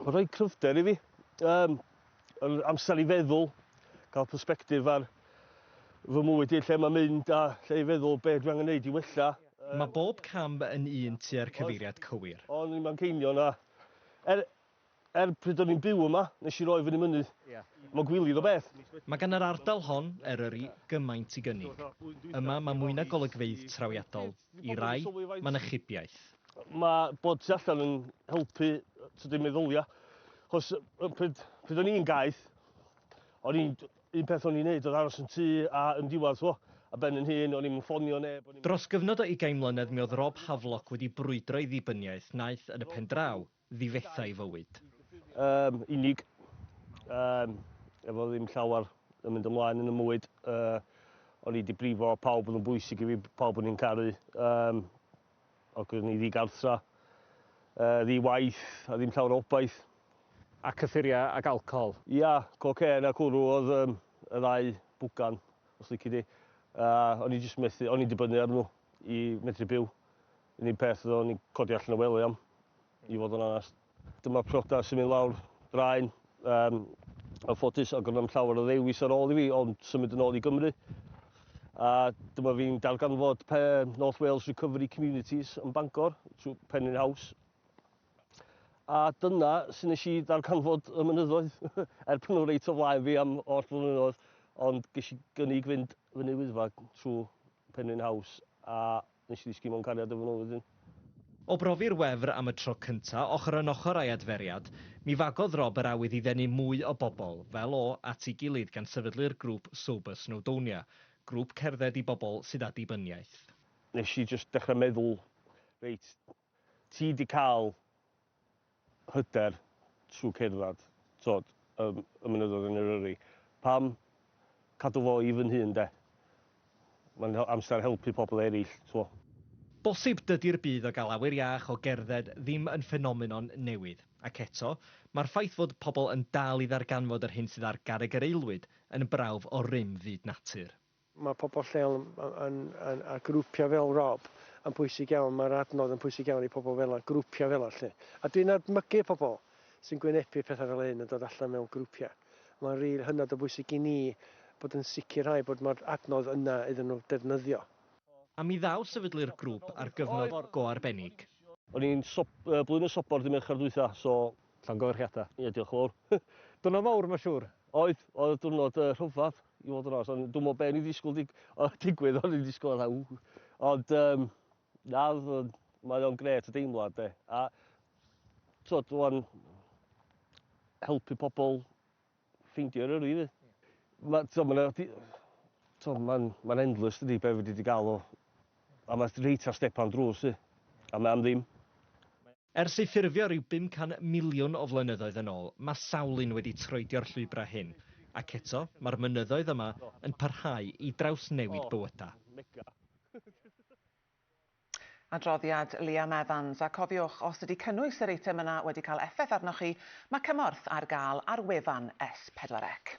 Mae'n rhoi cryfder i fi. Um, yr amser i feddwl, cael perspektif ar fy mwyd i, lle mae'n mynd a lle i feddwl be dwi angen neud i wella. Mae bob cam yn un tua'r cyfeiriad cywir. O'n i'n Manceinion a er, er pryd o'n i'n byw yma, nes i roi fyny mynydd. Mae'n gwilydd o beth. Mae gan yr ardal hon, Eryri, gymaint i gynnig. Yma mae mwy na golygfeydd trawiadol, i rai, mae na chybiaeth. Mae bod tu allan yn helpu tydi meddylia. Chos pryd, pryd o'n i'n gaeth, o'n i'n un peth o'n i'n neud oedd aros yn tŷ a yn diwedd, chwo, a ben yn hun, o'n i'n ffonio neb. Dros gyfnod o ugain mlynedd mi oedd Rob Havelock wedi brwydro i ddibyniaeth, naeth, yn y pen draw, ddifetha i fywyd. Yn unig. Yym, efo ddim llawer yn mynd ymlaen yn 'y mywyd, yy, o'n i 'di brifo pawb oedd yn bwysig i fi, pawb o'n i'n caru, yym, ac o'n i ddigartra, yy, ddi-waith, a ddim llawer o obaith. A cyffuria ag alcohol? Ia, cocên a cwrw oedd yym, y ddau bwgan, os lici di. A o'n i jyst methu, o'n i'n dibynnu ar nhw i medru byw. Yr unig peth fyddwn ni'n codi allan y wely am, i fod yn onest. Dyma priodas sy'n mynd lawr draen. Um, yn ffodus, ac roedd llawer o ddewis ar ôl i fi, ond symud yn ôl i Gymru. A dyma fi'n darganfod pe North Wales Recovery Communities yn Bangor, trwy Penrhyn House. A dyna sy'n nes i ddarganfod y mynyddoedd, er pan nhw reit o flaen fi am oll flynyddoedd, ond ges i gynnig fynd fyny wyddfa trwy Penrhyn House a nes i ddisgyn mewn cariad efo nhw wedyn. O brofi'r wefr am y tro cynta, ochr yn ochr â'i adferiad, mi fagodd Rob yr awydd i ddenu mwy o bobl, fel o, at ei gilydd gan sefydlu'r grŵp Sober Snowdonia, grŵp cerdded i bobl sydd â dibyniaeth. Nes i jyst dechra meddwl, reit, Ti di cael hyder trwy cerdded, t'od, y y mynyddoedd yn Eryri. Pam cadw fo i fy nhŷ ynde? Mae'n amser helpu pobl eraill, t'mo'. Bosib dydi'r budd o gael awyr iach o gerdded ddim yn ffenomenon newydd, ac eto, mae'r ffaith fod pobl yn dal i ddarganfod yr hyn sydd ar garreg yr aelwyd yn brawf o rym fyd natur. Mae pobl lleol yn, yn, a grwpiau fel Rob yn bwysig iawn, mae'r adnodd yn bwysig iawn i pobl fel 'na, grwpiau fel 'na 'lly. A dwi'n edmygu pobl sy'n gwynebu pethau fel hyn yn dod allan mewn grwpiau. Mae'n rili hynod o bwysig i ni bod yn sicrhau bod mae'r adnodd yna iddyn nhw defnyddio. A mi ddaw sefydlu'r grŵp ar gyfnod go arbennig. O'n i'n swp- yy blwyddyn y swpor dy Mercher dwytha so Llongyfarchiadau. Ie, diolch yn fawr. Dyna mawr, mae'n siŵr. Oedd, oedd y diwrnod uh, rhyfedd, i fod yn os. Ond dwi'n meddwl beth ni ddisgwyl dig, o, digwydd, o'n i'n ddisgwyl fatha, ww. Ond, um, na, mae o'n gret y deimlad, de. A, tod, dwi'n helpu pobl ffeindio'r yrru i fi. Mae, tod, mae'n... Tod, mae'n ma endless, dydy, beth fi wedi gael o. A mae'n reit ar stepan drws i. A mae'n ddim. Ers ei ffurfio ryw 500 miliwn o flynyddoedd yn ôl, mae sawl un wedi troedio'r llwybrau hyn, ac eto, mae'r mynyddoedd yma yn parhau i drawsnewid bywydau. Adroddiad Liam Evans, a cofiwch, os ydy cynnwys yr eitem yna wedi cael effaith arnoch chi, mae cymorth ar gael ar wefan S4C.